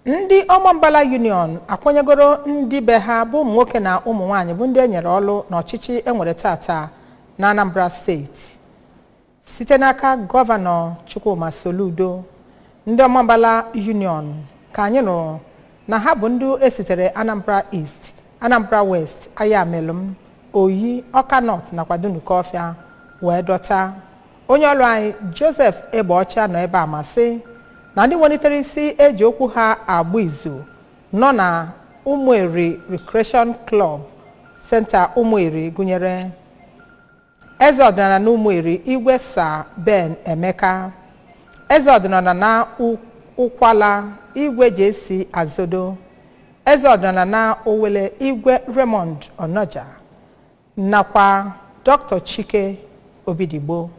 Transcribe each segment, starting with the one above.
ndị ọmambala union akwanyegoro ndị be ha bụ ụmụ nwoke na ụmụ nwaanyị bụ ndị e nyere ọrụ n'ọchịchị e nwere tata na anambra steeti site n'aka gọvanọ chukwuma soludo ndị ọmambala union ka anyị nụrụ na ha bụ ndị esitere anambra east anambra west ayamelụm oyi ọka north nakwa dunukọfịa wee dọta onye ọrụ anyị joseph egbeọcha nọ ebe a ma sị na ndị welitere isi e ji okwu ha agba izu nọ na ụmụeri recreation club center ụmụeri gụnyere eze ọdịnala na ụmụeri igwe sir ben emeka eze ọdịnala na ụkwala igwe jc azodo eze ọdịnala na owele igwe raymond onoja nakwa Dr. Chike Obidigbo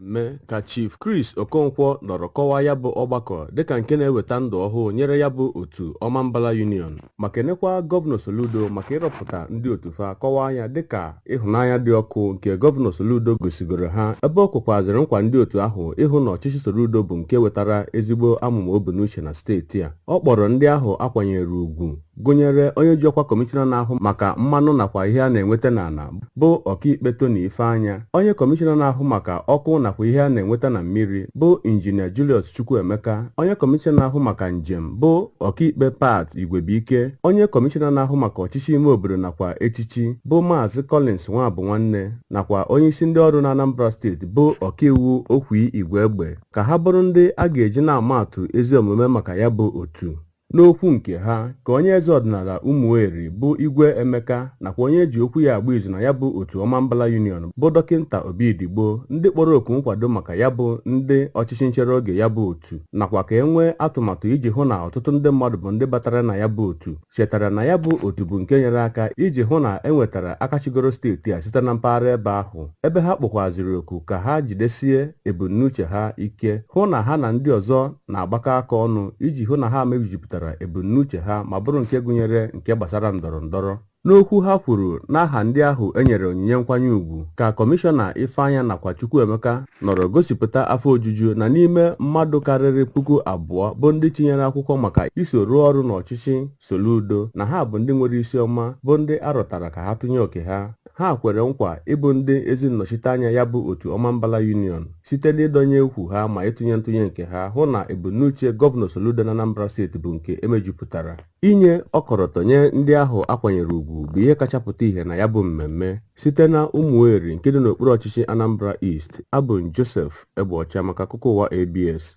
mmemme ka Chief Chris Okonkwo nọrọ kọwaa ya bụ ọgbakọ dịka nke na-eweta ndụ ọhụụ nyere ya bụ otu Ọmambala Union ma kenekwa Gọvanọ Soludo maka ịrọpụta ndị otu fa kọwaa ya dịka ịhụnanya dị ọkụ nke gọvanọ Soludo gosigoro ha ebe o kwekwaziri nkwa ndị otu ahụ ịhụ na ọchịchị Soludo bụ nke wetara ezigbo amụma o bu n'uche na steeti a ọ kpọrọ ndị ahụ a kwanyere ugwu gụnyere onye ji ọkwa kọmishọna na-ahụ maka mmanụ nakwa ihe a na-enweta n'ala bụ ọkaikpe Tony Ifeanya onye kọmishọna na-ahụ maka ọkụ nakwa ihe a na-enweta na mmiri bụ injinia Julius Chukwuemeka onye kọmishọna na-ahụ maka njem bụ ọkaikpe Pat Igwebuike onye kọmishọna na-ahụ maka ọchịchị ime obodo nakwa echichi bụ Maazị Collins Nwabunwanne nakwa onyeisi ndị ọrụ n'Anambra steeti bụ ọkaiwu Okwy Igwegbe ka ha bụrụ ndị a ga-eji na-ama atụ ezi omume maka ya bụ otu. N'okwu nke ha ka onye eze ọdịnala Umueri bụ Igwe Emeka nakwa onye e ji okwu ya agba izu na ya bụ otu Ọmambala Union bụ Dọkịnta Obidigbo ndị kpọrọ oku nkwado maka ya bụ ndị ọchịchị nchere oge ya bụ otu nakwa ka e nwee atụmatụ iji hụ na ọtụtụ ndị mmadụ bụ ndị batara na ya bụ otu chetara na ya bụ otu bụ nke nyere aka iji hụ na e nwetara aka chịgoro steeti a site na mpaghara ebe ahụ ebe ha kpọkwazịrị oku ka ha jidesie ebumnuche ha ike hụ na ha na ndị ọzọ na-agbakọ aka ọnụ iji hụ na ha mejupụtara ebumnuche ha ma bụrụ nke gụnyere nke gbasara ndọrọ ndọrọ n'okwu ha kwuru n'aha ndị ahụ e nyere onyinye nkwanye ugwu ka kọmishọna ifeanya nakwa chukwuemeka nọrọ gosipụta afọ ojuju na n'ime mmadụ karịrị puku abụọ bụ ndị tinyere akwụkwọ maka iso rụọ ọrụ n'ọchịchị Soludo na ha bụ ndị nwere isi ọma bụ ndị a rọtara ka ha tụnye oke ha ha kwere nkwa ịbụ ndị ezi nnọchiteanya ya bụ otu Ọmambala Union site n'ịdọnye ukwu ha ma ịtụnye ntụnye nke ha hụ na ebumnuche gọvanọ Soludo na Anambra steeti bụ nke e mejupụtara Inye ọkọlọtọ nye ndị ahụ a kwanyere ugwu bụ ihe kacha pụta ihe na ya bụ mmemme site na Ụmụeri nke dị n'okpuru ọchịchị Anambra East. Abụ m Joseph Egbeọcha maka akụkọ ụwa ABS.